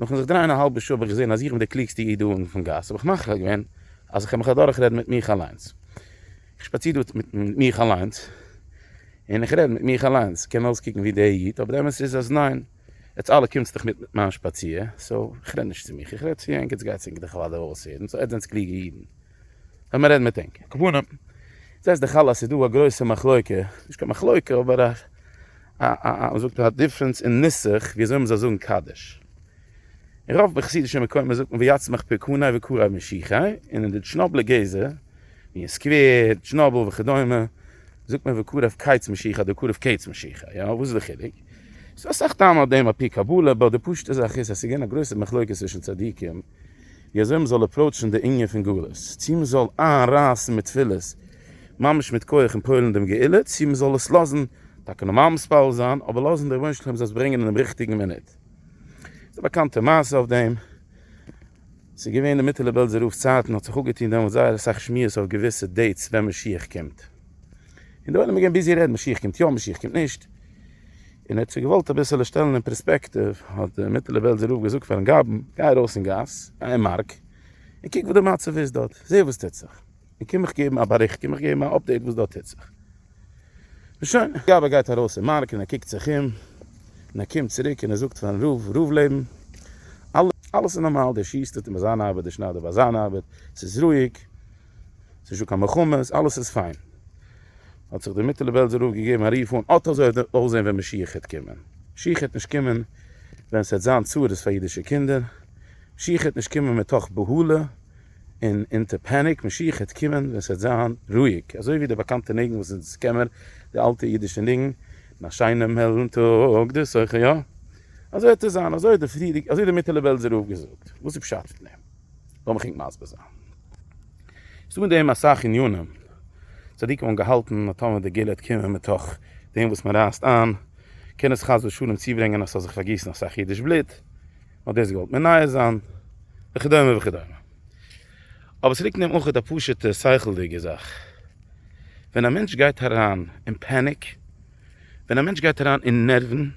נאכן זיך דרייען א האלבע שעה האב איך געזען אז איך בין דער קלוגסטער איד דא אונטן פון גאס, האב איך מחליט געווען אז איך וועל מיך אדורכרעדן מיט מיך אליינס. איך שפאציר דא מיט מיך אליינס, און איך רעד מיט מיך אליינס, קען אויסקוקן ווי דער איד, אבער די אמת איז אז ניין, עטס אלע קומטס דאך מיט מיט מיין שפאציר, סאו איך רעד נישט צו מיך, איך רעד צו ענק, עטס גייטס ענק דאך אוודאי אויסהערן, סאו עטס זענטס קלוגע אידן. לאמיר רעדן מיט ענק. כוונה, זעסט דאך אלע אז ס'איז דא א גרויסע מחלוקה, נישט קיין מחלוקה אבער א א א א מ'זאגט א דיפרענס אין נוסח ווי אזוי מ'זאל זאגן קדיש. אין רוב מחסידישע מקומות זאגט מען ויצמח פרקוני וקרב משיחי, און אין די טשנאבלע גזע, ווי אין סקווער, טשנאבל וכדומה, זאגט מען וקרב קיץ משיחי אדער קרב קץ משיחי. יא, וואס איז די חילוק? ס'דא אסאך טעמים אויף דעם אפי' קבלה, באט די פשוט'ע זאך איז אז ס'איז געווען א גרויסע מחלוקה צווישן צדיקים, וויאזוי מ'זאל אפראוטשן די ענין פון גלות, צו מ'זאל איינרייסן מיט תפילות ממש מיט כח און פועל'ן דעם גאולה, צו מ'זאל עס לאזן טאקע נארמאל מתפלל זיין, אבער לאזן דער רבונו של עולם זאל עס ברענגען אינעם ריכטיגן מינוט. ס'איז א באקאנטע מעשה אויף דעם. ס'איז געווען אין מיטעלע בעלזער רב'ס צייטן, האט זיך אפגעטון דעמאלטס זייער אסאך שמועות אויף געוויסע דעיטס ווען משיח קומט. און די עולם איז געווען ביזי רעדן משיח קומט יא משיח קומט נישט. און ער האט זיך געוואלט אביסעלע שטעלן אין פרעספעקטיוו, האט דער מיטעלער בעלזער רב געזאגט פארן גאבן, גיי ארויס אין גאס, א אין מארק, און קוק וואס די מצב איז דארט, זע וואס טוט זיך, און קום מיך געבן א באריכט, קום מיך געבן א אפדעיט וואס דארט טוט זיך. און שוין. גאב ד גייט ארויס אין מארק און ער קוקט זיך אום, און ער קומט צוריק און ער זאגט פארן רב, רב לעבן, אלעס איז נארמאל, דער שיסטער טוט ביי זיין ארבעט, דער שניידער ביי זיין ארבעט, ס'איז רואיג, ס'איז נישט דא קיין מלחמות, אלעס איז פיין. האט זיך דער מיטעלע בעלזער רב געגעבן א רוף אן, אט אזוי וועט דאס אויסזען ווען משיח העט קומען. משיח העט נישט קומען ווען ס'העט זיין צרות פאר אידישע קינדער, משיח העט נישט קומען מתוך בהלה און אונטער פעניק, משיח העט קומען ווען ס'העט זיין רואיג, אזוי ווי דער באקאנטער ניגון וואס אונז איז קעמער, די אלטע אידישע ניגון, אין א שיינעם העלן טאג די סוחר יא. אזוי העט עס זיין, אזוי האט דער מיטעלע בעלזער רב געזאגט, וואס איז פשט פון דעם? לאמיך ענק מסביר זיין. ס'דא אין דעם אסאך ענינים. צדיקים האבן געהאלטן אז טאמער די געל העט קומען מתוך דעם וואס מ'רייסט איין, קען עס חס ושלום צוברענגען אז ס'זאל זיך פארגיסן אסאך אידיש בלוט, מ'האט דאס געוואלט מנייע זיין, וכדומה וכדומה. אבער ס'ליגט אין דעם אויך א פשוט'ע שכל'דיגע זאך. ווען א מענטש גייט אריין אין פעניק, ווען א מענטש גייט אריין אין נערוון,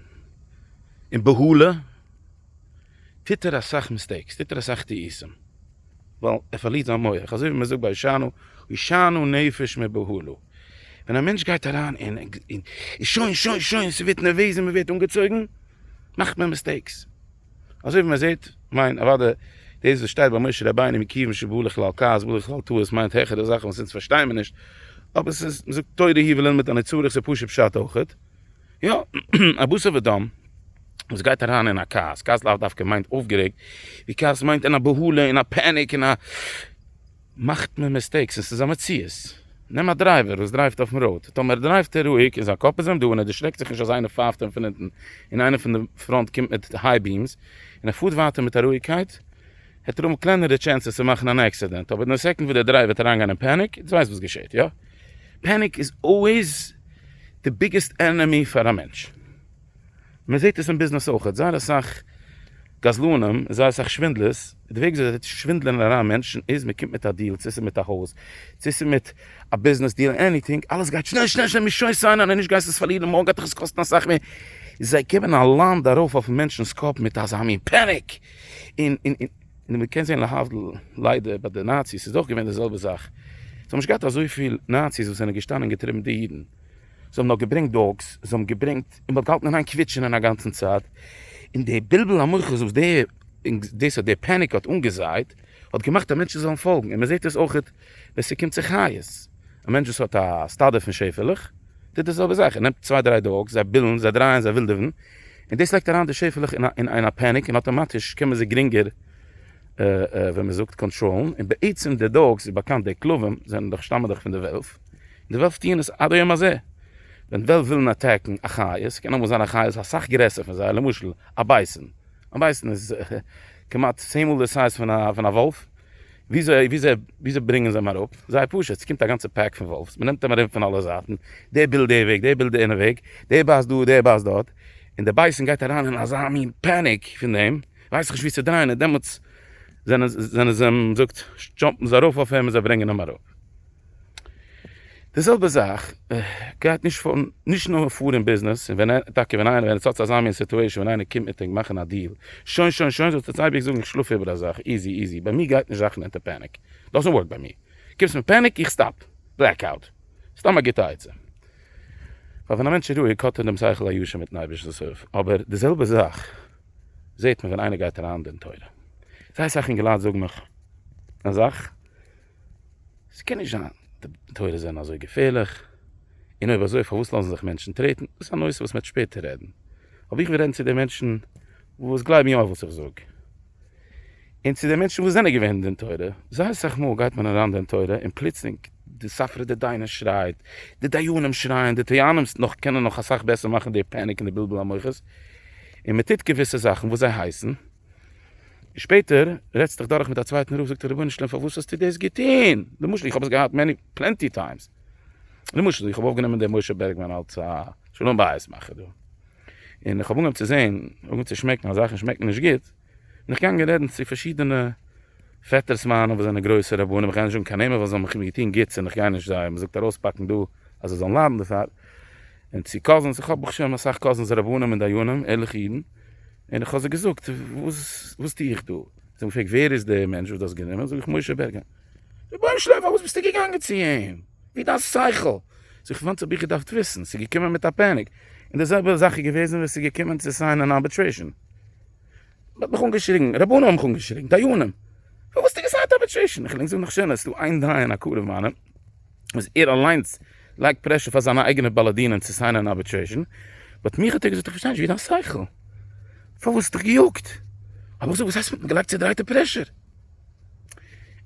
אין בהלה, טוט ער אסאך מיסטעיקס, טוט ער אסאך טעותים, ווייל ער פארלירט זיין מח, אזוי ווי מען זאגט ביי הושענא, הושענא נפש מבהלה, ווען א מענטש גייט אריין אין אין שוין שוין שוין ס'ווערט נערוועז און מ'ווערט אנגעצויגן, מאכט מען מיסטעיקס, אזוי ווי מען זעט, כ'מיין אוודאי דאס וואס שטייט ביי משה רבינו מכיוון שבא לכלל כעס בא לכלל טעות מיינט העכערע זאכן וואס אונז פארשטייען מיר נישט, אבער ס'איז, מ'זאגט תורה היא וללמוד אני צריך ס'איז פשוט פשט אויכעט. יא, א בשר ודם וואס גייט אריין אין א כעס, כעס לאו דווקא מיינט אויפגערעגט, די כעס מיינט אין א בהלה אין א פעניק אין א. מאכט מען מיסטעיקס און ס'איז א מציאות. נעם א דרייווער וואס דרייווט אויפן ראוד, טאמער דרייווט ער רואיג און זיין קאפ איז אים דא און ער דערשרעקט זיך נישט אז איינער פייפט אים פון אונטן און איינער פון די פראנט קומט מיט היי ביעמס און ער פארט ווייטער מיט א רואיגקייט, האט ער אמאל קלענערע טשענסעס צו מאכן אן עקסידענט, אבער די סעקונד וואס דער דרייווער וועט אריינגיין אין פעניק, דו ווייסט וואס געשעהט, יא? פעניק איז אלוועיס די ביגעסט ענעמי פאר א מענטש, מען זעהט עס אין ביזנעס אויכעט, זייער אסאך גזלנים, זייער אסאך שווינדלערס, די וועג וויאזוי זיי שווינדלען אריין מענטשן איז, מען קומט מיט א דיעל, צו עס איז מיט א הויז, צו עס איז מיט א ביזנעס דיעל, עניטינג, אלעס גייט שנעל שנעל שנעל, מען שויס איין אריין, נישט גייסט עס פארלירן, מארגן גייט דיך עס קאסטן אסאך מער, זיי געבן א לאנד ארויף אויפן מענטשנ'ס קאפ מיט אזא מין פעניק, און. און מ'קען זעהן להבדיל ליידער ביי די נאציס איז אויך געווען די זעלבע זאך, זיי האבן נישט געהאט אזויפיל נאציס וואס זענען געשטאנען און געטריבן די אידן, זיי האבן נאר געברענגט דאגס, זיי האבן געברענגט און מ'האט געהאלטן אינאיין קוויטשענען א גאנצן צייט, און די בלבול המוחות וואס די און דאס האט די פעניק האט אנגעזייט האט געמאכט אז מענטשן זאלן פאלגן, און מ'זעהט עס אויך. ווען ס'קומט צו חיות, א מענטש וואס האט א סטאדע פון שעפעלעך, טוט די זעלבע זאך, ער נעמט צוויי דריי דאגס, זיי בילן, זיי דרייען, זיי ווילדעווען, און דאס לייגט אריין די שעפעלעך אין א פעניק, און אטאמאטיש קען מען זיי גרינגער, ווי מען זאגט, קאנטראלן, און בעצם די דאגס, ווי באקאנט די כלבים זענען דאך, שטאמען דאך פון די וועלף, און די וועלף טוען עס עד היום הזה, ווען וועלף ווילן אטעקן א חיה, ס'קען אמאל זיין א חיה איז אסאך גרעסער פון זיי, למשל א בייסען, א בייסען איז כמעט צען מאל די סייז פון א וואלף, וויאזוי ברענגען זיי אים אראפ? זייער פשוט, ס'קומט א גאנצע פּעק פון וואלף'ס, מ'נעמט אים ארום פון אלע זייטן, דער בילט די וועג, דער בילט יענע וועג, דער בייסט דא, דער בייסט דארט, און דער בייסן גייט אריין אין אזא מין פּאַניק פון דעם, ווייס איך נישט וואו צו דרייען, און דעמאלטס זענען זיי אים, זאגט, דזשאמפּן זיי ארויף אויף אים און זיי ברענגען אים אראפ. די זעלבע זאך גייט נישט פאר נישט נאר פאר אין ביזנעס, און ווען טאקע ווען איינער ווען עס האט אזא מין סיטועשאן ווען איינער קומט מיט ענק מאכן א דיעל, שוין שוין שוין זאלסטו עס אייביג זאגן איך שלאף איבער אזאך, איזי איזי, ביי מיר גייט נישט זאכן אונטער פעניק, דאזענט ווארק ביי מיר, קומסט מיט פעניק איך סטאפ, בלעק אוט, סתם א גוטע עצה, ווייל ווען א מענטש איז רואיג האט ער דעם שכל הישר מיטן אייבערשטנ'ס הילף, אבער די זעלבע זאך זעט מען ווען איינער גייט אריין אין תורה, זייער אסאך אינגעלייט זאגן מיך א זאך. ס'קען נישט זיין די תורות זענען אזוי געפערליך, און אויב אזוי פארוואס לאזן זיך מענטשן טרעטן? דאס איז א נושא וואס מ'וועט שפעטער רעדן, אבער איך וויל רעדן צו די מענטשן וואס גלייבן יא וואס איך זאג, און צו די מענטשן וואס זענען געווען אין דעם תורה, זייער סאך מאל גייט מען אריין דעם תורה און פלוצלינג די ספרא דדיינא שרייט, די דיינים שרייען, די טוענים'ס נאך קענען נאך אסאך בעסער מאכן די פעניק און די בלבול המוחות, און מ'טוט געוויסע זאכן וואס זיי הייסן. שפעטער רעדסט דיך דורך מיט א צווייטן רב זאגט ער רבונו של עולם פארוואס האסטו דאס געטון? למשל איך האב עס געהאט מעני פלענטי טיימס למשל איך האב אויפגענומען דעם משה בערגמאן אלץ א שלום בית מאכער דא און איך האב אנגעהויבן צו זען אנגעהויבן צו שמעקן אז זאכן שמעקן נישט גוט בין איך געגאנגען רעדן צו פארשידענע פעטערס מיינע וואס זענען גרויסע רבנים איך גיי נישט זאגן קיין נעמען ווייל זיי האבן מיר געטון גוטס און איך גיי נישט זיי מ'זאגט ארויספאקן דא אז זיי זאלן ליידן דערפאר און צו קאזינס איך האב ברוך השם אסאך קאזינס רבנים און דיינים ערליכע אידן און איך האב זיי געזאגט וואס וואס טו איך דא? זיי האבן געפרעגט ווער איז די מענטש וואס דו האסט גענומען? זאג איך משה בערגער. רבונו של עולם פארוואס ביסטו געגאנגען צו אים? ווי דיין שכל? זאג איך וואנס האב איך געדארפט וויסן? ס'איז געקומען מיט א פעניק. און די זעלבע זאך איז געוועזן ווען ס'איז געקומען צו סיינען אן ארביטרעישן. מ'האט מיך אנגעשריגן, רבנים האבן מיך אנגעשריגן, דיינים. פארוואס האסטו געסיינט ארביטרעישן? איך וויל ענק זאגן נאך שענער, ס'איז דא איין דיין א קרוב מיינעם. אז ער אליינס לייגט פרעשור פאר זיינע אייגענע בעלי דינים צו סיינען אן ארביטרעישאן, באט מיך האט ער געזאגט איך פארשטיי נישט ווי איז דיין שכל? פארוואס האסט דיך געיאגט? האב איך געזאגט וואס הייסט געלייגט צעדרייטע פרעשור?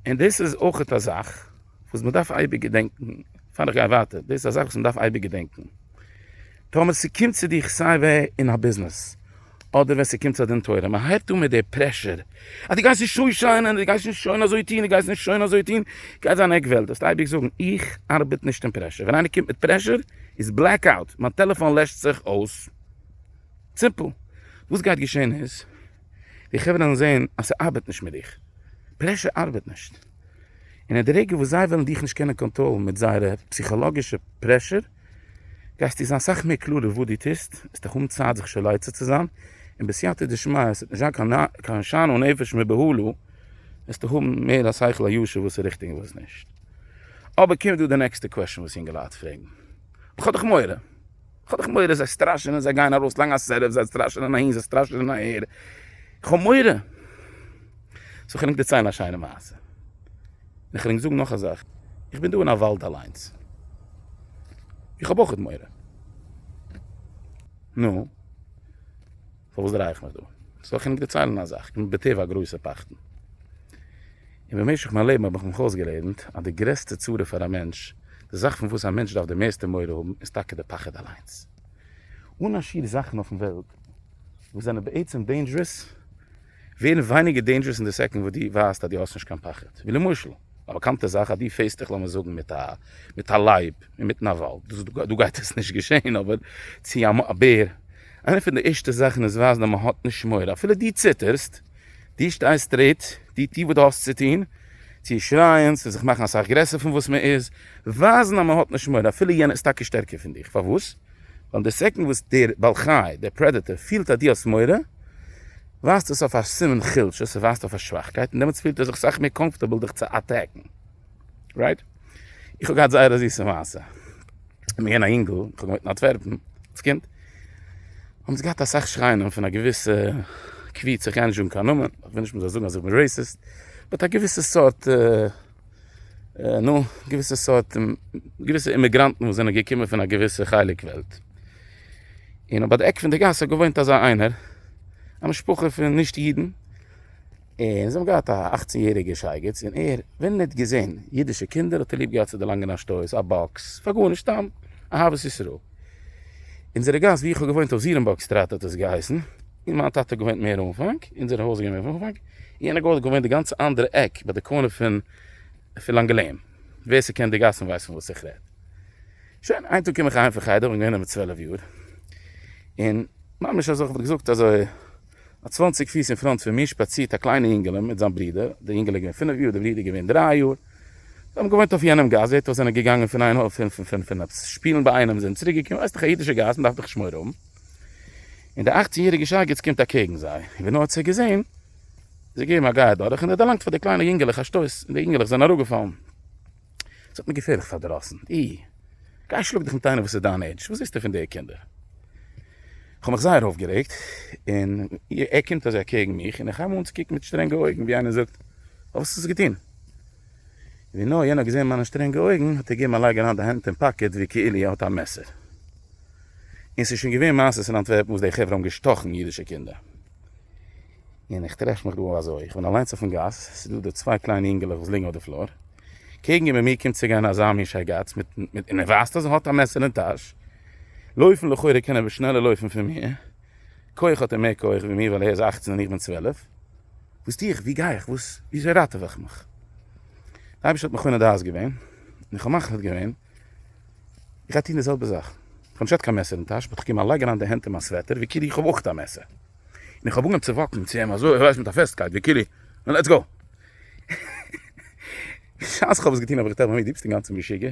און דאס איז אויך א זאך וואס מען דארף אייביג געדענקן, פאר איך גיי ווייטער, דאס איז א זאך וואס מען דארף אייביג געדענקן, טאמער ס'קומט צו דיך סיי ווער אין א ביזנעס, אדער ווען ס'קומט צו א דין תורה, מען הייבט אן מיט די פרעשור, אז דו גייסט נישט צו שיין און דו גייסט נישט שוין אזוי טון, דו גייסט נישט שוין אזוי טון, גייט זיין עק וועלט, דארפסט אייביג זאגן, איך ארבעט נישט אין פרעשור, ווען איינער קומט מיט פרעשור איז בלעק אוט, מיין טעלעפאן לעשט זיך אויס, סימפל. וואס גייט געשען איז, די חברה וועלן זען אז ס'ארבעט נישט מיט דיך, פרעשור ארבעט נישט, און אין די רגע וואס זיי וועלן דיך נישט קענען קאנטראלן מיט זייערע פסיכאלאגישע פרעשור, גייסטו זיין סאך מער קלארער וואס דו טוסט, עס איז דאך אן צייט זיך שוין לייצר צו זיין, און בסייעתא דשמיא עס וועט נישט זיין קיין שאנן נפש מבהלה, וועסטו האבן מער א שכל הישר וואס איז ריכטיג און וואס נישט. אבער קומט דא די נעקסטע קוועשן וואס יונגעלייט פרעגן, איך האב דאך מורא, איך האב דאך מורא, זיי סטראשענען, זיי גייען ארויסלייגן א סערעף, זיי סטראשענען אהין, זיי סטראשענען אהער, איך האב מורא. סאו כ'נעם דיר ציילן א שיינע מעשה. איך וויל ענק זאגן נאך א זאך, איך בין דא אין א וואלד אליינס, איך האב אויכעט מורא, נו, פארוואס דריי איך מיך דא? זאל איך ענק דערציילן א זאך, איך בין בטבע א גרויסער פחדן, און במשך מיין לעבן האב איך מיך אויסגעלערנט אז די גרעסטע צרה פאר א מענטש, די זאך פון וואס א מענטש דארף די מערסטע מורא האבן, איז טאקע די פחד אליינס. אן א שיעור זאכן אויפן וועלט וואס זענען בעצם דעינדזשערעס, ווערן ווייניגער דעינדזשערעס אין די סעקאנד וואס די ווייזט אז די האסט נישט קיין פחד, ווי למשל א באקאנטע זאך אז די פעיסט דיך לאמיר זאגן מיט א מיט א לייב אינמיטן א וואלד, דאס איז דא גייט עס נישט געשעהן אבער צו א א בער, איינע פון די ערשטע זאכן עס ווייזט אז מען האט נישט מורא אפילו די ציטערסט, די שטייסט סטרעיט, די טו וואס די האסט צו טון, צו שרייען, צו זיך מאכן אסאך גרעסער פון וואס מען איז, ווייזן אז מען האט נישט מורא אפילו יענער איז טאקע שטערקער פון דיך, פארוואס? ווייל די סעקענד וואס דער בעל חי, דער פרעדעטער, פילט אז דו האסט מורא, ווייזט דאס אויף א סימן חולשה, ס'ווייזט אויף א שוואכקייט, און דעמאלטס פילט ער זיך סאך מער קאמפארטעבל דיך צו אטעקן. רייט? איך האב געהאט זייער א זיסע מעשה. איך בין געווען א יונגל, איך האב געוואוינט אין אנטווערפן, אלס קינד, האבן זיי געהאט אסאך שרייען פון א געוויסע קבוצה, איך גיי נישט זאגן קיין נאמען, איך וויל נישט מ'זאל זאגן אז איך בין רעיסיסט, באט א געוויסע סארט. נו, געוויסע סארט, געוויסע אימיגראנטן וואס זענען געקומען פון א געוויסע חלק וועלט. און אויף ביי די עק פון די גאס האט געוואוינט אזא איינער, א משפחה פון נישט אידן, און זיי האבן געהאט א אכצן יעריגע שייגעץ, און ער, ווען ער האט געזען אידישע קינדער האט ער ליב געהאט צו דערלאנגען א שטויס, א באקס, פאר גארנישט, סתם אהבת ישראל. אונזערע גאס ווי איך האב געוואוינט אויף זירענבורג סטראט האט עס געהייסן, און מיין טאטע האט געוואוינט מער אנפאנג, אונזער הויז איז געווען מער אנפאנג. יענע גאר האט געוואוינט די גאנצע אנדערע עק ביי די קארנער פון פון לאנגעלען, ווער ס'קען די גאסן ווייסט פון וואס איך רעד. שוין, איין טאג קום איך אהיים פון חדר, כ'בין געווען דעמאלט צוועלף יאר, און ממש אזוי כ'וואלט געזאגט אזוי א צוואנציג פיס אין פראנט פון מיר שפאצירט א קליינע אינגעלע מיט זיין ברודער, די אינגעלע איז געווען פינף יאר, די ברודער איז געווען דריי יאר, זיי האבן געוואוינט אויף יענעם גאס, זעט אויס זענען געגאנגען פון איין הויף פון פון פון עפעס שפילן ביי איינעם זענען צוריק געקומען, ווייסט איך א אידישע גאס מ'דארף דאך שמור האבן. און דער אכצן יעריגער שייגעץ קומט אקעגן זיי, און ווי נאר ער האט זיי געזען, איז ער געגעבן א גיי אדורך, און ער האט דערלאנגט פאר די קליינע יונגעלעך א שטויס, און די יונגעלעך זענען אראפגעפאלן. עס האט מיר געפערליך פארדראסן. אי, גיי שלאג דיך מיט איינער וואס איז דיין עידזש, וואס ווילסטו פון די קינדער? איך האב מיך זייער אויפגערעגט, און ער קומט אזוי אקעגן מיך, און איך הייב אן צו קוקן מיט שטרענגע אויגן, ווי איינער זאגט, אוי, וואס האסטו געטון? און ווי נאר יענער האט געזען מיינע שטרענגע אויגן, האט ער געגעבן א לייג אריין די הענט אין פאקעט, ווי כאילו ער האט א מעסער. און ס'איז שוין געווען מעשות אין אנטווערפן וואס די חברה האבן געשטאכן אידישע קינדער. און איך טרעף מיך דא אזוי, איך בין אליינס אויפן גאס, ס'איז דא די צוויי קליינע אינגעלעך וואס ליגן אויף די פלאר, קעגן איבער מיר קומט צו גיין אזא מין שייגאץ מיט, מיט, און ער ווייזט אז ער האט א מעסער אין טאש, לויפן לכאורה קען ער וואס שנעלער לויפן פון מיר, כח האט ער מער כח ווי מיר ווייל ער איז אכצן און איך בין צוועלף, וואס טו איך, וואו גיי איך, וואס, וויאזוי ראטעווע איך מיך? די אייבערשטער האט מכונה דעת געווען, און כ'האב מחליט געווען איך גיי טון די זעלבע זאך, איך האב נישט קיין מעסער אין טאש, באט איך קום אליין לייגן אריין די הענט אין מיין סוועטער ווי כאילו איך האב אויך א מעסער, און איך האב אנגעהויבן צו וואקן צו אים אזוי איך ווייס מיט א פעסטקייט ווי כאילו נו לעטס גאו. בשעת איך האב עס געטון האב איך געטראכט ביי מיר דו ביסט אינגאנצן משוגע,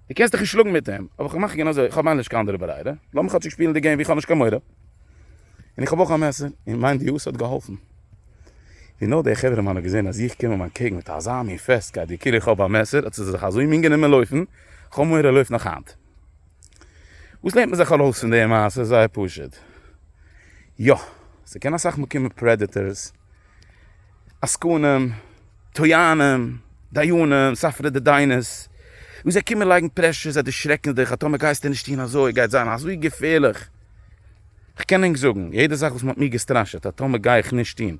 דו קענסט דיך נישט שלאגן מיט אים, אבער איך מאך גענוי אזוי, איך האב ממילא נישט קיין אנדערע ברירה, לאמיר כאטשיג שפילן די געים ווי איך האב נישט קיין מורא, און איך האב אויך א מעסער, און מיין דיעות האט געהאלפן. ווי נאר דער חברה מאן האט געזען אז איך קום אים אנטקעגן מיט אזא מין פעסטקייט ווי כאילו איך האב א מעסער האט ער זיך אזוי מין גענומען לויפן, כ'האב מורא ער לויפט נאך היינט. וואס לערנט מען זיך ארויס פון די מעשה? זייער פשוט, יא, ס'קען אסאך מאל קומען פרעדעטארס, עסקנים, טוענים, דיינים, ספרא דדיינערס, וואס זיי קומען לייגן פרעשור, זיי דערשרעקן דיך, אז טאמער גייסטו נישט טון אזוי, גייט זיין אזוי געפערליך, כ'קען ענק זאגן, יעדע זאך וואס מ'האט מיר געסטראשעט, אז טאמער גיי איך נישט טון,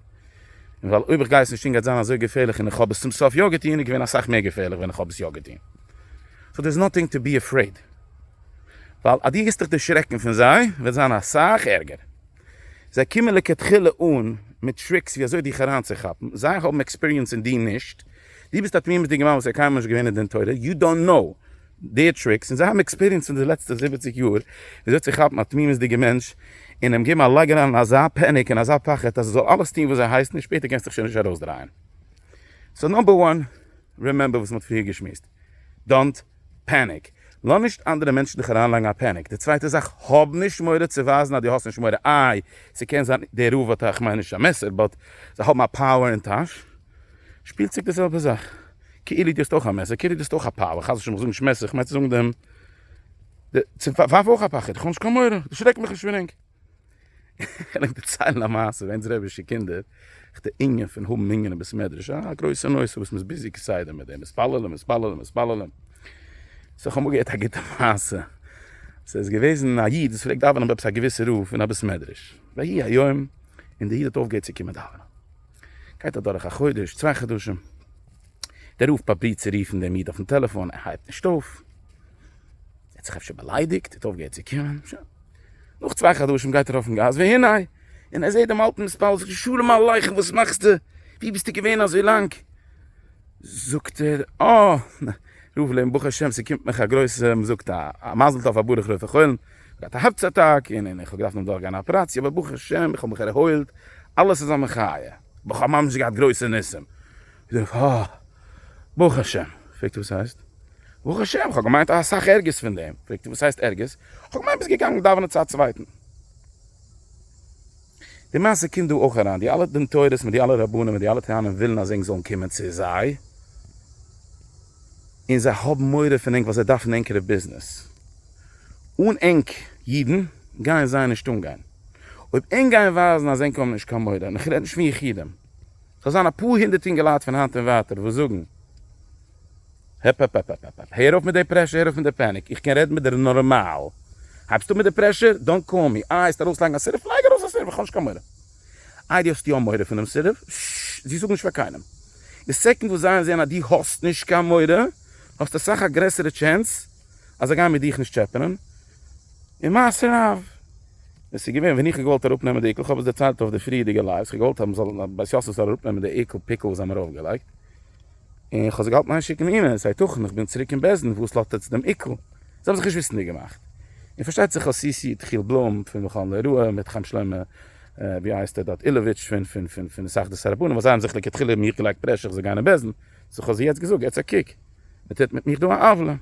און ווייל אויב איך גיי עס נישט טון גייט זיין אזוי געפערליך, און איך האב עס צום סוף יא געטון, איז געווען אסאך מער געפערליך ווען איך האב עס יא געטון, סאו דער איז נאטינג טו בי עפרעיד, ווייל אז דו וועסט דיך דערשרעקן פון זיי, וועט זיין אסאך ערגער. זיי קומען לכתחילה אן מיט טריקס ווי אזוי דיך אריינצוכאפן, זיי האבן עקספיריענס און דו נישט, דו ביסט א תמימות'דיגע מאן וואס האט קיינמאל נישט געווען אין דין תורה, יו דאנט קנאו דעיר טריקס, און זיי האבן עקספיריענס פון די לעצטע זיבעציג יאר ווי אזוי צו כאפן א תמימות'דיגע מענטש און אים געבן א לייג אריין אין אזא פעניק און אזא פחד אז ער זאל אלעס טון וואס זיי הייסן און שפעטער קענסטו דיך שוין נישט ארויסדרייען. סאו נאמבער וואן, רימעמבער וואס מען האט פריער געשמועסט, דאנט פעניק, לאז נישט אנדערע מענטשן דיך אריינלייגן א פעניק, די צווייטע זאך, האב נישט מורא צו ווייזן אז דו האסט נישט מורא, איי ס'קען זיין דער רב האט א, כ'מיין נישט א מעסער, באט זיי האבן א פאווער אין טאש, שפילצוג די זעלבע זאך, כאילו דו האסט אויך א מעסער, כאילו דו האסט אויך א פאווער, חס ושלום כ'זאג נישט מעסער כ'מיין צו זאגן דעם, צו ווארף אויך א פחד, כ'האב נישט קיין מורא, דערשרעק מיך נישט פון ענק. כ'על ענק דערציילן א מעשה, ווענס רבישע קינדער, איך די אינגען פון האבן מנין אין ביס מדרש, א גרויסע נושא וואס מ'איז ביזי כסדר מיט דעם, מתפללים מתפללים מתפללים, סאו איך האב אמאל געהערט א גוטע מעשה, ס'איז געוועזן א איד וואס פלעגט דאווענען ביי עפעס א געוויסע רב אין א ביס מדרש, ויהי היום און די איד האט אויפגעהערט צו קומען דאווענען, גייט אדורך א חודש, צוויי חדשים, דער רב פרובירט צו רופן דעם איד אויפן טעלעפאן, ער הייבט נישט אויף, ער האט זיך אפשר באליידיגט, ער האט אויפגעהערט צו קומען, שוין. נאך צוויי חדשים גייט ער אויפן גאס והנה! און ער זעהט דעם אלטן מספר, זאגט ער שלום עליכם וואס מאכסטו? ווי ביסטו געווען אזוי לאנג? זאגט ער אה! רוב לעבן ברוך השם ס'קומט מיך א גרויסע מ'זאגט א מזל טוב פאר ברוך רופא חולין, כ'האט א הארץ אטאק און איך האב געדארפט נאך דורכגיין א אפעראציע אבער ברוך השם איך האב מיך ערהוילט אלעס איז א מחיה, בכ'האב ממש געהאט גרויסע ניסים. זאג איך, אה, ברוך השם. פרעגט ער, וואס הייסט? ברוך השם, כ'האב געמיינט אסאך ערגערס פון דעם. פרעגט ער, וואס הייסט ערגערס? כ'האב געמיינט ביסט געגאנגען דאווענען צו א צווייטן. די מעשה קומט דא אויך אריין, די אלע דין תורה'ס מיט די אלע רבנים מיט די אלע טוענים ווילן אז ענק זאלן קומען צו זיי, און זיי האבן מורא פון ענק ווייל זיי דארפן ענקערע ביזנעס. אן ענק אידן גייען זיי נישט אנגיין. אויב ענק גייען ווייזן אז ענק האבן נישט קיין מורא, און כ'רעד נישט פון יחידים. ס'זאל זיין אפאר הונדערט אינגעלייט פון היינט און ווייטער וואס זאגן, העפעפעפעפעפעפ, הער אויף מיט די פרעשור, הער אויף מיט די פעניק, איך קען רעדן מיט דיר נארמאל, הייבסט אן מיט די פרעשור, דאנט קאל מי, איי האסט ארויסלייגן א סירוב, לייג ארויס א סירוב, איך האב נישט קיין מורא, איי די האסט יא מורא פונעם סירוב, ששש, זי זאג נישט פאר קיינעם, די סעקאנד וואס זיי זעען אז די האסט נישט קיין מורא, האסטו אסאך א גרעסערע טשענס אז זיי גייען מיט דיך נישט טשעפענען, און מעשה רב, ווען ס'איז געווען ווען איך האב געוואלט אראפ נעמען די עיקול, כ'האב עס דערציילט אויף די פריערדיגע לייווס, כ'האב געוואלט אז מ'זאל אז בית יוסף זאל אראפ נעמען די עיקול פיקל וואס זיי האבן ארויף געלייגט, און כ'האב זיי געהאלטן איין שיקן אימעיל, אז הייתכן איך בין צוריק אין בית דין וואס לאזט עטץ דעם עיקול? זיי האבן זיך נישט וויסנדיג געמאכט. און פארשטייט זיך כ'האב סיסי'ד חיל בלום פון מכון ליראה, מיט חיים שלמה ווי הייסט ער דארט אילעוויטש פון פון פון פון התאחדות הרבנים, אז זיי האבן זיך לכתחילה מיך געלייגט פרעשור כ'זאל גיין אין בית דין, זיך האָט זי יעצט געזאָגט, יעצט אַ קוק, מען טוט מיט מיך דאָ אַן עוולה.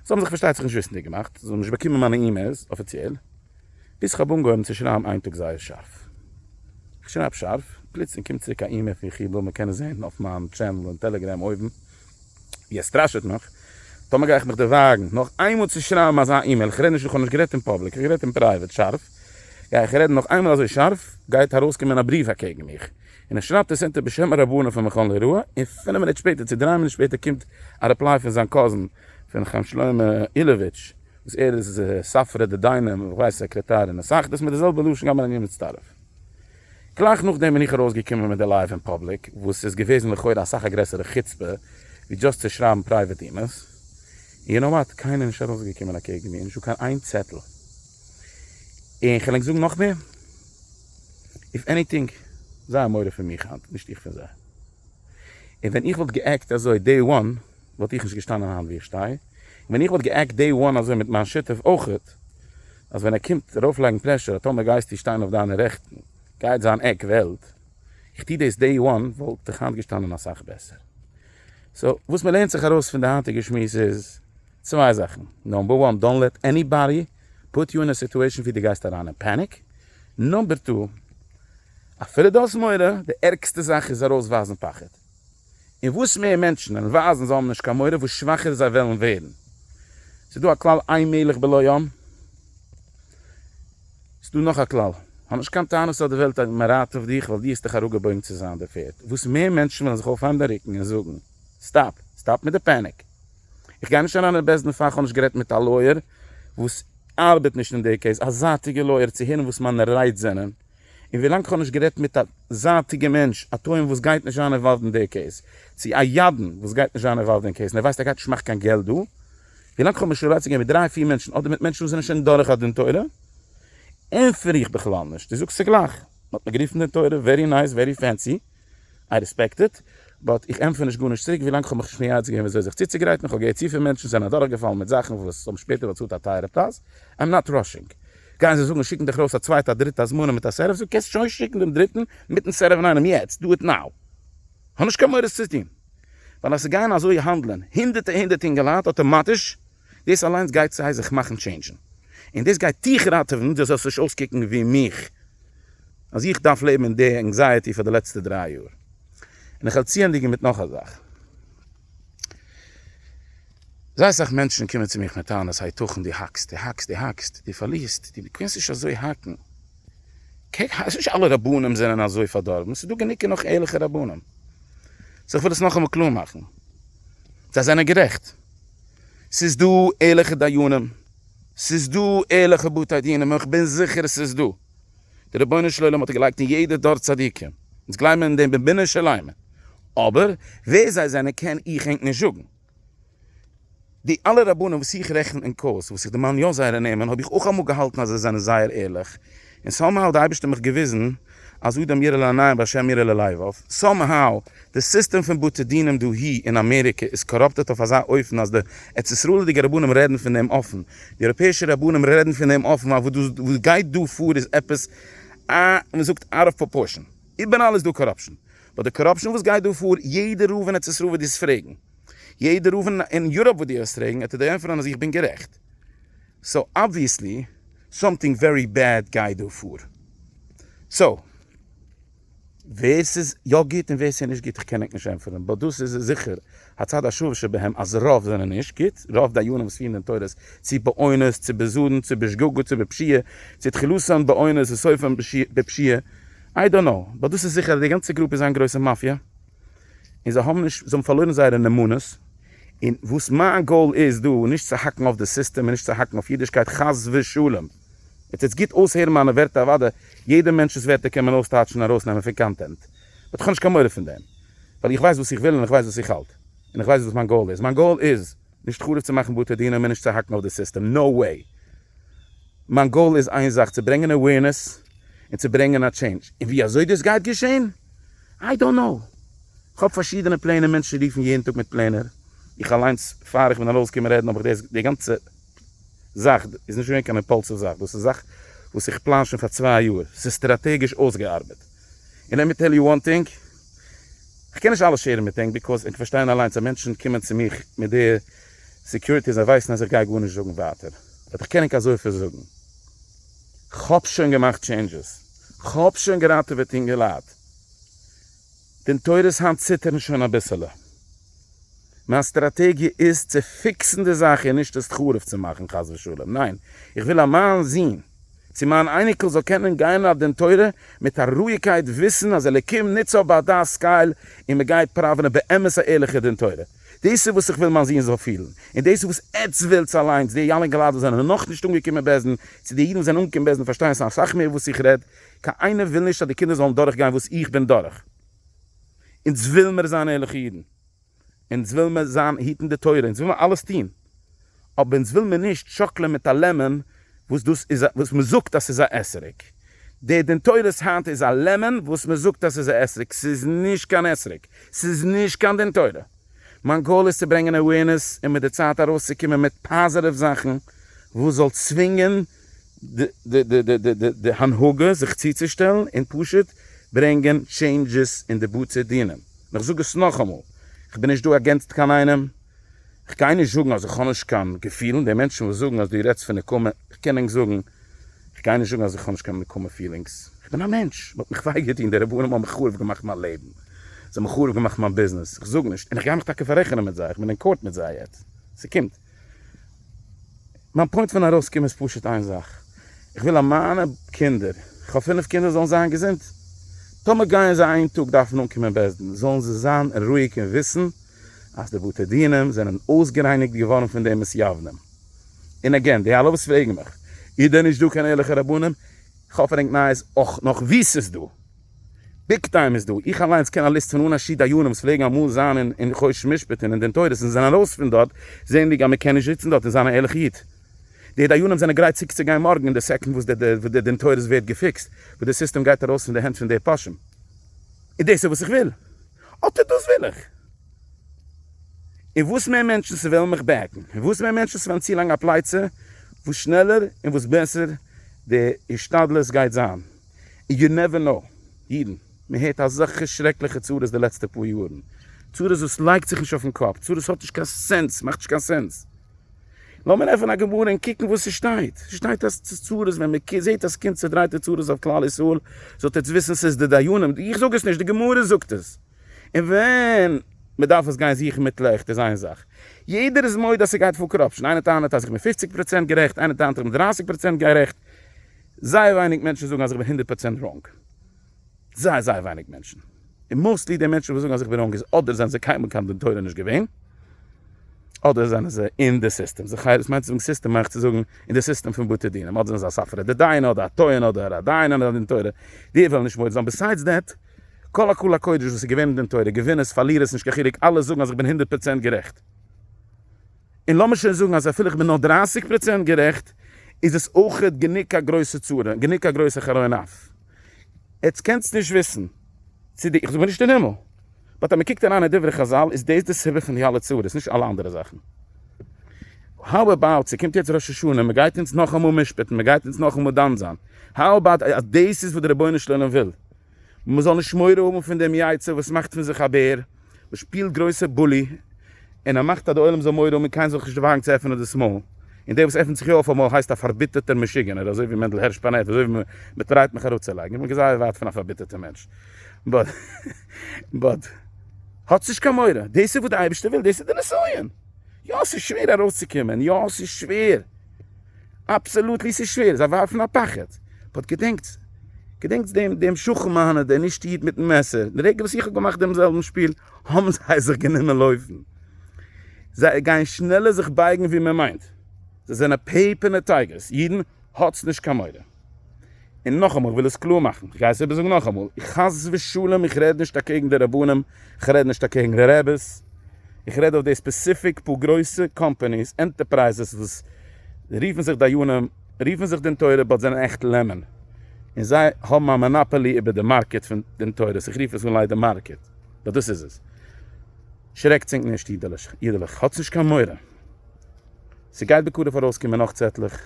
זיי האָבן זיך, פאַרשטייט זיך, נישט וויסנדיק געמאַכט, זיי האָבן נישט באַקומען מיינע אימעילס אָפיציעל, ביז כ'האָב אָנגעהויבן צו שרייבן איין טאָג זייער שאַרף. כ'שרייב שאַרף, פּלוצלינג קומט צוריק אַ אימעיל פון כ'וויל מען קען עס זען אויף מיין טשענעל אין טעלעגרעם אויבן, ווי ער סטראַשעט מיך, טאָמער גיי איך מיך דערווייגן נאָך איינמאָל צו שרייבן אַזאַ אימעיל, כ'רעד נישט, כ'האָב נישט גערעדט אין פּובליק, כ'האָב גערעדט אין פּרייוועט, שאַרף, גיי איך רעדן נאָך איינמאָל אַזוי שאַרף, גייט אַרויסקומען אַ בריוו אַקעגן מיך, און ער שרייבט עס אונטער בשם הרבנים פון מכון ליראה, און פינף מינוט שפעטער צו דריי מינוט שפעטער קומט א ריפליי פון זיין קאזין פון חיים שלמה אילאוויטש וואס ער איז ספרא דדיינים און כ'ווייס סעקרעטאר און הסאכדעס מיט די זעלבע לשון גם אני מצטרף. גלייך נאכדעם בין איך ארויסגעקומען מיט די לייוו אין פאבליק וואס איז געוועזן לכאורה אסאך א גרעסערע חוצפה ווי דשאסט צו שרייבן פרייוועט אימעלס, און יו נאו וואט, קיינער איז נישט ארויסגעקומען אקעגן מיר, נישטא קיין איין צעטל. און כ'על ענק זאגן נאכמער. איף עניטינג, זיי האבן מורא פון מיך היינט, נישט איך פון זיי. און ווען איך וואלט גע'עקט אזוי דעי וואן, וואלט איך נישט געשטאנען היינט ווי איך שטיי. און ווען איך וואלט גע'עקט דעי וואן אזוי מיט מיין שותף אויכעט, אז ווען ער קומט ארויפלייגן פרעשור אז טאמער גייסטו שטיין אויף דיינע רעכטן, גייט זיין עק וועלט. איך טו דאס דעי וואן, וואלט איך היינט געשטאנען אסאך בעסער. סאו, וואס מ'לערנט זיך ארויס פון די היינטיגע שמועס איז, צוויי זאכן. נאמבער וואן, דאנט לעט עניבאדי פוט יו אין א סיטועשן ווי די גייסט אריין אין פעניק, נאמבער טו אפילו די האסט מורא, די ערגסטע זאך איז ארויס ווייזן פחד, און וואס מער מענטשן וועלן ווייזן זיי האבן נישט קיין מורא וואס שוואכער זיי וועלן ווערן, ס'איז דא א כלל אין מלך בלא יום, ס'איז דא נאך א כלל, האב נישט קיין טענות אויף די וועלט א מרעיט אויף דיך ווייל די האסט דיך אראפגעבויגן צו זיין די פערד, וואס מער מענטשן וועלן זיך אויפהייבן די רוקן און זאגן. סטאפ! סטאפ מיט די פעניק! איך גיי נישט אריין אין בעסדן פאל כ'האב נישט גערעדט מיט א לויער וואס ארבעט נישט אין די קעיס, א זייטיגע לויער צו הערן וואס מיינע רייד זענען, און ווילאנג כ'האב נישט גערעדט מיט א זייטיגע מענטש, א טוען וואס גייט נישט זיין אינוואלווד אין די קעיס, צו א ידען וואס גייט נישט זיין אינוואלווד אין קעיס און ער ווייסט ער גייט נישט מאכן קיין געלט דא, ווילאנג כ'האב נישט רעלאציע צו גיין מיט דריי פיר מענטשן אדער מיט מענטשן וואס זענען שוין דורך א דין תורה, ענטפער איך בכלל נישט, דו זאגסט צוגלייך, מ'האט מיר גערופן דין תורה, ווערי נייס, ווערי פענסי, איי רעספעקט איט, באט איך ענטפער נישט גארנישט צוריק ווילאנג כ'האב מיך נישט מייעץ געווען וויאזוי זיך צוצוגרייטן, כ'האב געהערט צופיל מענטשן זענען אדורכגעפאלן מיט זאכן וואס האבן שפעטער באצאלט א טייערע פרייז, איים נאט ראשינג. גייען זיי זאגן שיקן דיך ארויס א צווייטע א דריטע הזמנה מיט א סערעוו זאג קענסט שוין שיקן דעם דריטן מיטן סערעוו אינאיינעם יעצט דא איט נאו. כ'האב נישט קיין מורא עס צו טון ווייל אז ס'גייען אזוי האנדלען הונדערטע הונדערט אינגעלייט אטאמאטיש דאס אליינס גייט סיי זיך מאכן טשעינדזשן, און דאס גייט דיך ראטעווען דו זאלסט נישט אויסקוקן ווי מיך, אז איך דארף לעבן אין די ענקזייעטי פאר די לעצטע דריי יאר. און איך וועל צוענדיגן מיט נאך א זאך. זייער סאך מענטשן קומען צו מיך מיט טענות היתכן דו האקסט, דו האקסט, דו האקסט, דו פארלירסט, דו קענסט נישט אזוי האקן, קוק אז נישט אלע רבנים זענען אזוי פארדארבן, ס'איז דא גענוג און נאך ערליכע רבנים. סאו איך וויל עס נאכאמאל קלאר מאכן, זיי זענען גערעכט. ס'איז דא ערליכע דיינים, ס'איז דא ערליכע בתי דינים, און כ'בין זיכער ס'איז דא. דער רבונו של עולם האט געלייגט אין יעדע דור צדיקים, אונז גלייבן אין דעם בבינער של עלמין, אבער ווער זיי זענען קען איך ענק נישט זאגן. די אלע רבנים וואס איך רעכן אין קורס, וואס איך דערמאן יא זייערע נעמען, האב איך אויך אמאל געהאלטן אז זיי זענען זייער ערליך, און סאו מאו האט די אייבישטער מיך געוויזן אז אדם ירא לעניים והשם ירא ללבב, סאו מאו די סיסטעם פון בתי דינים דאהי אין אמעריקע איז קאראפטעט אויף אזא אופן אז די ארץ ישראל'דיגע רבנים רעדן פון דעם אפן, די אייראפעאישע רבנים רעדן פון דעם אפן, ווייל וואס גייט דא פאר איז עפעס א, מען זאגט אוט אוו פראפארשען, איבעראל איז דא קאראפשען, באט די קאראפשען וואס גייט דא פאר, יעדע רב אין ארץ ישראל וועט דיר עס פרעגן, יעדע רב אין יוראפ וועט דיר עס פרעגן, עטס וועט ענטפערן אז איך בין גערעכט, סאו אבוויעסלי. סאמטינג ווערי בעד גייט דא פאר. סאו ווער ס'איז יא גוט און ווער ס'איז נישט גוט איך קען ענק נישט ענטפערן באט דאס איז זיכער הצד השוה שבהם אז רוב זענען נישט גוט רוב דיינים וואס פירן דעם תורות צו באונס צו בזדון צו בשגגה צו בפשיעה צו תחילתן באונס און סופן בפשיעה איי דאנט נאו באט דאס איז זיכער אז די גאנצע גרופ איז איין גרויסע מאפיא. און זיי האבן נישט, זיי האבן פארלוירן זייערע נאמנות, און וואס מיין גאול איז דא איז נישט צו האקן אויף די סיסטעם און נישט צו האקן אויף אידישקייט חס ושלום, און טוטס גוט אויסהערן מיינע ווערטער אוודאי יעדע מענטש'ס ווערטער קען מען אויסטייטשן און ארויסנעמען פון קאנטענט, באט איך האב נישט קיין מורא פון דעם, ווייל איך ווייס וואס איך וויל און איך ווייס וואס איך האלט, און איך ווייס וואס מיין גאול איז, מיין גאול איז. נישט חרוב צו מאכן בתי דין און מער נישט צו האקן אויף די סיסטעם, נאו וועי! מיין גאול איז איין זאך, צו ברענגען אווערנעס און צו ברענגען א טשעינדזש, און ווי אזוי דאס גייט געשען? איי דאנט נאו! כ'האב פארשידענע פלענער, מענטשן רופן יעדן טאג מיט פלענער, איך אליינס פאר איך בין ארויסגעקומען רעדן האב איך דאס, די גאנצע זאך איז נישט געווען קיין אימפאלסיוו זאך, דאס איז זאך וואס איך פלאן שוין פאר צוויי יאר, ס'איז סטראטעגיש אויסגעארבעט, און לעט מי טעל יו וואן טינג, כ'קען נישט אלעס שעירן מיט ענק ביקאוז ענק פארשטייען אליינס אז מענטשן קומען צו מיך מיט די סעקיוריטי אז זיי ווייסן אז איך גיי גארנישט זאגן ווייטער באט איך קען ענק אזויפיל זאגן כ'האב שוין געמאכט טשעינדזשעס כ'האב שוין געראטעוועט אינגעלייט די נטורי ס היינט ציטערן שוין אביסעלע. מיין סטראטעגיע איז צו פיקסן די זאך און נישט עס חרוב צו מאכן חס ושלום, ניין, איך וויל אז מיין זון צו מיין אייניקל זאל קענען גיין אויף דין תורה מיט א רואיגקייט וויסן אז אלוקים נוצט זיי ביי דעת סקייל און מען גייט פראווענען באמת א ערליכע דין תורה, דאס איז וואס איך וויל מיין זון זאל פילן, און דאס איז וואס עטץ ווילטס אליינס, די אלע אינגעלייט וואס זענען נאכנישט אנגעקומען בעסטן, צו די אידן וואס זענען אנגעקומען בעסטן פארשטייען אסאך מער וואס איך רעד, קיינער וויל נישט אז די קינדער זאלן דורכגיין וואס איך בין דורך. אונז וויל מיר זיין ערליכע אידן, אונז וויל מיר זיין היטן די תורה, אונז וויל מיר אלעס טון, אבער אונז וויל מיר נישט שאקלען מיט א לעמען וואס דאס איז א וואס מען זאגט אז ס'איז א אסר'ק, דער דין תורות היינט איז א לעמען וואס מען זאגט אז ס'איז א אסר'ק, ס'איז נישט קיין אסר'ק, ס'איז נישט קיין דין תורה, מיין גאול איז צו ברענגען אווערנעס און מיט די צייט ארויסצוקומען מיט פאזיטיוו זאכן וואס זאל צווינגען. די הנהגה זיך צוצושטעלן און פשוט ברענגען טשעינדזשעס אין די בתי דין, און איך זאג עס נאכאמאל, איך בין נישט דא אגענסט קיין איינעם, איך גיי נישט זאגן אז איך האב נישט קיין געפילן, די מענטשן וואס זאגן אז דו רעדסט פון נקמה, איך קען ענק זאגן, איך גיי נישט זאגן אז איך האב נישט קיין נקמה פילינגס, איך בין א מענטש, מ'האט מיך וויי געטון, די רבנים האבן חרוב געמאכט מיין לעבן, זיי האבן חרוב געמאכט מיין ביזנעס, איך זאג נישט, און איך גיי מיך טאקע פאררעכענען מיט זיי, איך בין אין קאורט מיט זיי יעצט, ס'קומט. מיין פוינט פון ארויס קומען איז פשוט איין זאך, איך וויל אז מיינע קינדער, איך האב פינף קינדער, זאלן זיין געזונט, טאמער גייען זיי איין טאג דארפן אנקומען בית דין, זאלן זיי זיין רואיג און וויסן אז די בתי דינים זענען אויסגערייניגט געווארן פון די מתייוונים. און עגעין, די אלע וואס פרעגן מיך, איז דען נישט דא קיין ערליכע רבנים? איך האף ער הענגט נייעס אויך נאך וואו ס'איז דא. ביג טיים איז דא, איך אליינס קען א ליסט פון אן א ש דיינים וואס פלעגן אמאל זיין אין חושן משפטים און דן תורות און זענען ארויס פון דארט זעענדיג אז מען קען נישט זיצן דארט און זיין א ערליכע איד. די דיינים זענען גרייט צוקצוגיין מארגן אין די סעקאנד וואס די דין תורות ווערט געפיקסט, וואס די סיסטעם גייט ארויס פון די הענט פון די פושעים. און דאס איז וואס איך וויל. אטע דאס וויל איך. און וואס מער מענטשן ס'וועלן מיך בעקן, און וואס מער מענטשן ס'וועלן צולייגן א פלייצע, וואס שנעלער און וואס בעסער די השתדלות גייט זיין. יו נעווער נאו, אידן, מען הערט אזעלכע שרעקליכע צרות די לעצטע פאר יארן, צרות וואס לייגט זיך נישט אויפן קאפ, צרות וואס האט נישט קיין סענס, מאכט נישט קיין סענס, לאמיר עפענען א גמרא און קוקן וואס ס'שטייט, ס'שטייט אז צרות, ווען מען זעט אז קומט צעדרייטע צרות אויף כלל ישראל, זאלט עטס וויסן ס'איז די דיינים, איך זאג עס נישט, די גמרא זאגט עס, און ווען מען דארף עס גיין זוכן מיט לעכט איז איין זאך, יעדער איז מודה אז ס'גייט פאר קאראפשן, איינער טענה'ט אז איך בין פופציג פראצענט גערעכט, איינער טענה'ט איך בין דרייסיג פראצענט גערעכט, זייער ווייניג מענטשן זאגן אז איך בין הונדערט פראצענט ראנג. זייער זייער ווייניג מענטשן. און מאוסטלי די מענטשן וואס זאגן אז איך בין ראנג איז אדער זענען זיי קיינמאל קיין דין תורה נישט געווען, אדער זענען זיי אין די סיסטעם. זיך הייב, וואס מיינט צו זאגן סיסטעם? מיין איך צו זאגן אין די סיסטעם פון בתי דינים. אדער זענען זיי א ספרא דדיינא אדער א טוען אדער א דיין אדער א דין תורה. די וועלן נישט מודה זיין. ביסיידס דעט, כל הקהל הקודש וואס איז געווען אין דין תורה, געווינערס, פארלירערס, נישט קיין חילוק, אלע זאגן אז איך בין הונדערט פראצענט גערעכט. און לאמיר שוין זאגן אז אפילו איך בין נאר דרייסיג פראצענט גערעכט, איז עס אויכעט גענוג א גרויסע צרה, גענוג א גרויסע חרון אף. עטס קענטס נישט וויסן צו די, איך זאג מיר נישט אין הימל, באט אז מען קוקט אריין אין דברי חזל איז דאס די סיבה פון די אלע צרות, נישט אלע אנדערע זאכן. האו עבאוט ס'קומט יעצט ראש השנה, מען גייט אונז נאכאמאל משפט'ן, מען גייט אונז נאכאמאל דן זיין, האו עבאוט אז דאס איז וואס די רבונו של עולם וויל, און מ'זאל נישט מורא האבן פון דעם יצר וואס מאכט פון זיך א בער, וואס שפילט גרויסע בולי, און ער מאכט אז די עולם זאל מורא האבן און קיינער זאל זיך נישט וואגן צו עפענען דאס מויל, און דער וואס עפנט זיך יא אויף אמאל הייסט א פארביטערטער משוגענער, אזוי ווי מענדל הערש פאנעט, אזוי ווי מ'טרייט מיך אראפצולייגן, איך בין זייער ווייט פון א פארביטערטער מענטש, באט באט האטס נישט קיין מורא, דאס איז וואס די אייבערשטער וויל, דאס איז די נסיון, יא ס'איז שווער ארויסצוקומען, יא ס'איז שווער. אבסעלוטלי ס'איז שווער, זיי ווארפן א פחד, באט געדענקטס, געדענקטס דעם דעם שכן מיינער דער נישט איד מיטן מעסער, די רגע וואס איך האב געמאכט דעם זעלבן שפיל האבן זיי זיך גענומען לויפן, זיי גייען שנעלער זיך בייגן ווי מען מיינט, זיי זענען פעיפערנע טייגערס, אידן האטס נישט קיין מורא. און נאכאמאל, איך וויל עס קלאר מאכן, איך גיי עס איבערזאגן נאכאמאל, חס ושלום איך רעד נישט אקעגן די רבנים, איך רעד נישט אקעגן די רעבעס, איך רעד אויף די ספעסיפיק פאר גרויסע קאמפאניס, ענטערפרייזעס וואס רופן זיך דיינים, רופן זיך דין תורה באט זענען עכט לעמען, און זיי האבן א מאנאפאלי איבער די מארקעט פון דין תורה, איך רוף עס אן ליידער מארקעט, באט דאס איז עס. שרעקטס ענק נישט אידעלעך, האטס נישט קיין מורא, ס'גייט בקרוב ארויסקומען נאך צעטלעך.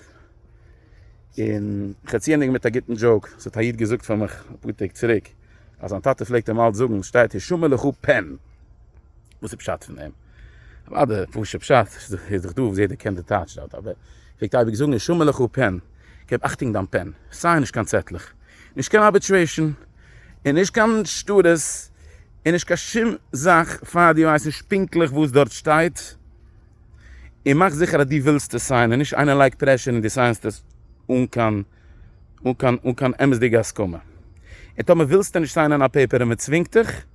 און כ'צי ענדיגן מיט א גוטן דזשאוק, ס'האט א איד געזאגט פאר מיך אפאר טעג צוריק, אז זיין טאטע פלעגט אים אלץ זאגן, שטייט הישמע לך פען! וואס איז פשט פון דעם? אוודאי פשוט פשט, ס'איז דאך דא וואס יעדער קען די טייטש דארט, אבער ער פלעגט אייביג זאגן הישמע לך פען! געב אכטונג דיין פען! סיי נישט קיין צעטלעך, נישט קיין ארביטרעישן, און נישט קיין שטרות, און נישט קיין שום זאך פאר דו ווייסט נישט פונקטליך וואס דארט שטייט, און מאך זיכער אז דו ווילסט עס סיינען, נישט איינער לייגט פרעשור און דו סיינסט עס אן קיין אן קיין אן קיין אמת'דיגע הסכמה. און טאמער ווילסטו נישט סיינען א פעיפער און מען צווינגט דיך,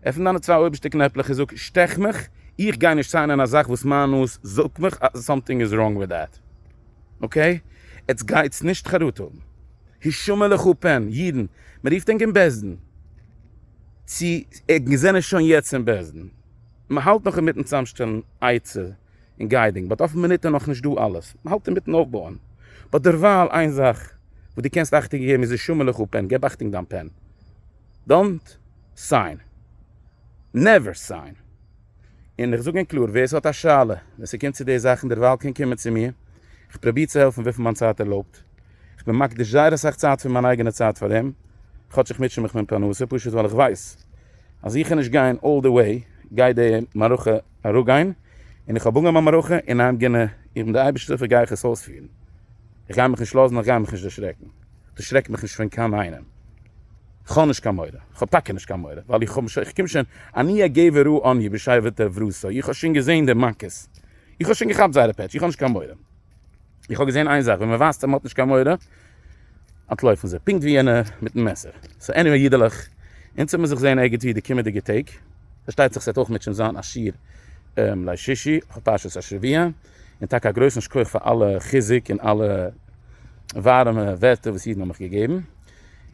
עפן דיינע צוויי אויבערשטע קנעפלעך און זאג שטעך מיך, איך גיי נישט סיינען א זאך וואס מיין נאז זאגט מיך אז סאמטינג איז ראנג וויט דעט. אקעי? עטס גייטס נישט חרטה האבן. הישמע לך פן, אידן, מען רופט ענק אין בית דין צו ענק זענען שוין יעצט אין בית דין. מען האלט נאך אינמיטן צאמשטעלן עצה און גיידינג, באט אויפן מינוט איז נאכנישט דא אלעס, מען האלט אינמיטן אויפבויען, באט דערווייל איין זאך וואס דו קענסט אכטונג געבן איז די שומער לך פען, געב אכטונג דיין פען, דאנט סיין, נעווער סיין, און איך זאג און קלאר ווער ס'האט א שאלה ווען ס'קומט צו די זאכן דערווייל קען קומען צו מיר, איך פראביר צו העלפן וויפיל מיין צייט ערלויבט. כ'בין מקדיש זייער אסאך צייט פון מיין אייגענע צייט פאר אים, כאטש איך מוטשע מיך מיט פרנסה, פשוט ווייל איך ווייס אז איך קען נישט גיין אלל די וועי, גייט די מערכה אראפגיין, און איך האב אנגעהויבן א מערכה און איים גאנע, איך בין דער אייבערשטער וגיי איך עס אויספירן, איך גיי מיך נישט לאזן, איך גיי מיך נישט דערשרעקן, דערשרעק מיך נישט פון קיין איינעם, כ'האב נישט קיין מורא, כ'האב טאקע נישט קיין מורא, ווייל איך האב, איך קום שוין, אני הגבר הוא אני בשייוועתא וברסא, איך האב שוין געזען די מכות, איך האב שוין געכאפט זייערע פעטש, איך האב נישט קיין מורא. איך האב געזען איין זאך ווען מען ווייזט אז מען האט נישט קיין מורא אנטלויפן זיי פונקט ווי יענע מיטן מעסער סאו עניוועי אידעלעך אונז וועמיר זיך זעהן ערגעץ ווי די קומעדיגע טעג פארשטייט זיך ס'עט אויך מיט שוין זיין א שיעור ליל שישי אויף פרשת השבוע און טאקע א גרויסן שכח פאר אלע חיזוק און אלע ווארעמע ווערטער וואס אידן האבן מיך געגעבן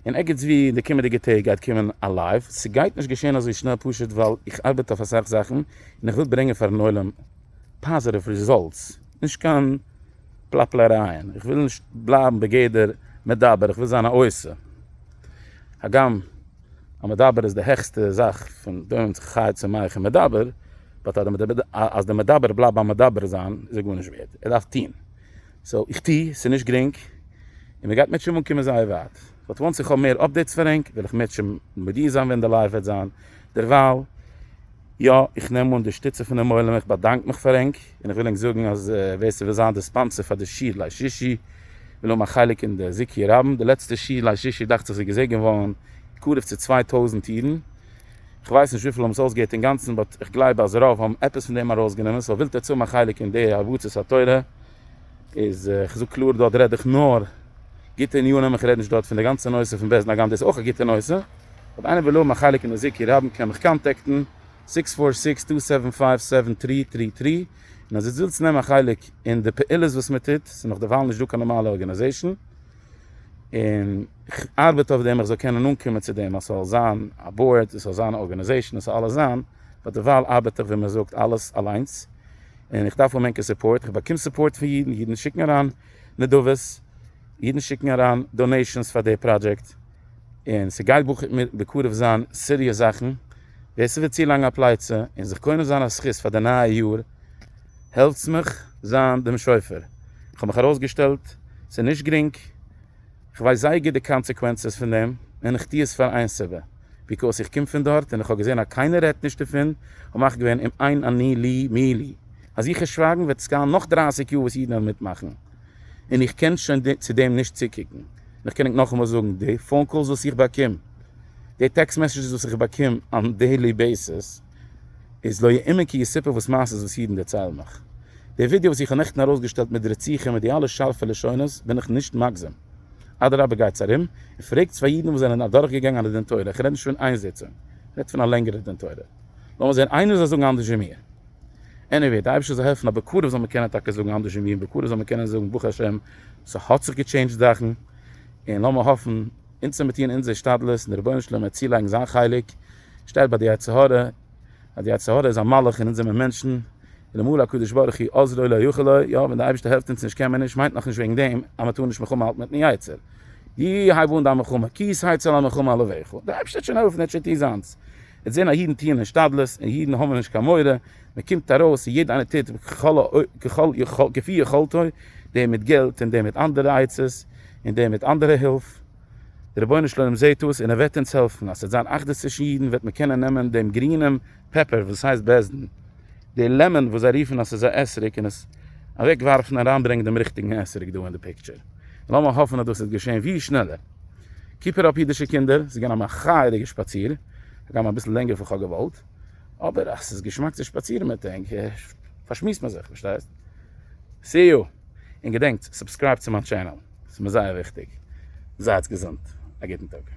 און ערגעץ ווי די קומעדיגע טעג גייט קומען א לייוו ס'גייט נישט געשען אזוי שנעל פשוט ווייל איך ארבעט אויף אסאך זאכן און איך וויל ברענגען פארן עולם פאזעטיוו רעזאלטס. נישט קיין פלאפלערייען, איך וויל נישט בלייבן בגדר מדבר, איך וויל זיין א עושה, הגם א מדבר איז די העכסטע זאך פון דא און זיך חי צו מאכן מדבר, באט אז די מדבר בלייבט ביים מדבר זיין איז ער גארנישט ווערד, ער דארף טון, סאו איך טו, ס'איז נישט גרינג און מ'גייט מיט שמים אנקומען זייער ווייט, באט וואנס איך האב מער אפדעיטס פאר ענק וועל איך מיט שמים מודיע זיין ווען די לייוו וועט זיין, דערווייל יא איך נעם אן די שטיצע פונעם עולם, איך באדאנק מיך פאר ענק. און איך וויל ענק זאגן אז ווער ס'וויל זיין די ספאנסער פאר די שיעור ליל שישי וויל האבן א חלק אין די זיכוי רבים, די לעצטע שיעור ליל שישי דאכט זיך איז געזעגנט געווארן קרוב צו צוויי טויזנט אידן, כ'ווייס נישט וויפיל האבן עס אויסגעהערט אינגאנצן באט איך גלייב אז רוב האבן עפעס פון דעם ארויסגענומען, סאו ווילט עטס האבן א חלק אין די הרבצת התורה איז, כ'זאג קלאר דארט רעד איך נאר גוטע עניינים איך רעד נישט דארט פון די גאנצע נושא פון בעסט דאגאן דאס איז אויך א גוטע נושא, אויב איינער וויל האבן א חלק אין די זיכוי רבים קען מיך קאנטעקטן. סיקס פאר סיקס טו סעווען פייוו סעווען טרי טרי טרי, און אז איצט ווילסט נעמען א חלק אין די פעולות וואס מען טוט, ס'איז נאך דערווייל נישט דא קיין נארמאלע ארגענעזעישן, און כ'ארבעט אויף דעם איך זאל קענען אנקומען צו דעם אז ס'זאל זיין א באורד, עס זאל זיין א ארגענעזעישן, און ס'זאל אלעס זיין, ביי דערווייל ארבעט איך ווי מען זאגט אלעס אליינס, און איך דארף אן ענקער סופארט, איך באקום סופארט פון אידן, אידן שיקן אריין נדבות, אידן שיקן אריין דאנעישאנס פאר די פראדזשעקט, און ס'גייט בקרוב זיין סיריעס זאכן. ווער ס'וויל צו לאנג א פלייצע און זיך קונה זיין א זכות פאר די נייע יאר העלטס מיך זיין דעם שופר, כ'האב מיך ארויסגעשטעלט, ס'איז נישט גרינג, כ'ווייס זייער גוט די קאנסעקווענסעס פון דעם, און כ'טוה עס פאר איין סיבה, ביקאוס איך קום פון דארט און כ'האב געזען אז קיינער רעדט נישט דערפון, האב מיך געווען אום עין אני לי מי לי, אז איך וועל שווייגן וועט עס גיין נאך דרייסיג יאר וואס אידן וועלן מיטמאכן, און איך קען שוין צו דעם נישט צוקוקן, און איך קען ענק נאכאמאל זאגן, די פאון קאלס וואס איך באקום. די טעקסט מעסעדזשעס וואס איך באקום אן דעילי בעיסיס איז לא יאומן כי יסופר וואס מעשה'ס וואס אידן דערציילן מיך. די ווידיא וואס איך האב נעכטן ארויסגעשטעלט מיט די רציחה מיט די אלע שארפע לשונות בין איך נישט מגזם. אדרבה גייטס ארום און פרעגטס פאר אידן וואס זענען אדורכגעגאנגען א דין תורה, איך רעד נישט פון איין זיצונג, איך רעד פון א לענגערע דין תורה. לאמיר זען איינער זאל זאגן אנדערש ווי מיר. עניוועי, די אייבערשטער זאל העלפן אז בקרוב זאל מען קענען טאקע זאגן אנדערש ווי מיר, בקרוב זאל מען קענען זאגן ברוך השם ס'האט זיך געטשעינדזשט זאכן, און לאמיר האפן. אונז צו מיר טוען אונזער השתדלות און די רבונו של עולם וועט צולייגן זיין חלק, שטייט ביי די יצר הרע, אז די יצר הרע איז א מלאך און אונז זעמער מענטשן, אלעמאל הקדוש ברוך הוא עוזרו לא יכול לו, יא ווען די אייבערשטער העלפט אונז נישט קען מען נישט מיינט נאכנישט וועגן דעם אז מען טאר נישט מלחמה האלטן מיטן יצר. י הייב אן דיין מלחמה כי ישא יצא למלחמה לברך, די אייבערשטער וועט שוין העלפן ער וועט שוין טון זיינס, עטס זען אז אידן טוען השתדלות און אידן האבן נישט קיין מורא, מען קומט ארויס און יעדער איינער טוט ככל כפי יכולתו, דער מיט געלט און דער מיט אנדערע עצות און דער מיט אנדערע הילף, דער רבונו של עולם זעט עס און ער וועט אונז העלפן אז ס'וועט זיין אחדות צווישן אידן וועט מען קענען נעמען דעם גרינעם פעפער וואס הייסט בעש ט, די לעמאן וואס זיי רופן אז ס'איז א אתרוג און עס אוועק ווארפן און אריין ברענגען דעם ריכטיגן אתרוג דא אין די פיקטשער, לאמיר האפן אז דאס וועט געשען ווי שנעלער. קיפ איט אפ אידישע קינדער, ס'איז געווען א מחה'דיגע שפאציר, הגם אביסל לענגער פון כ'האב געוואלט. אבער אז ס'איז געשמאק צו שפאצירן מיט ענק פארשמועסט מען זיך, פארשטייסט? סי יו! און געדענקטס סובסקרייבט צו מיין טשענעל ס'איז מיר זייער וויכטיג. זייטס געזונט! א גוטן טאג!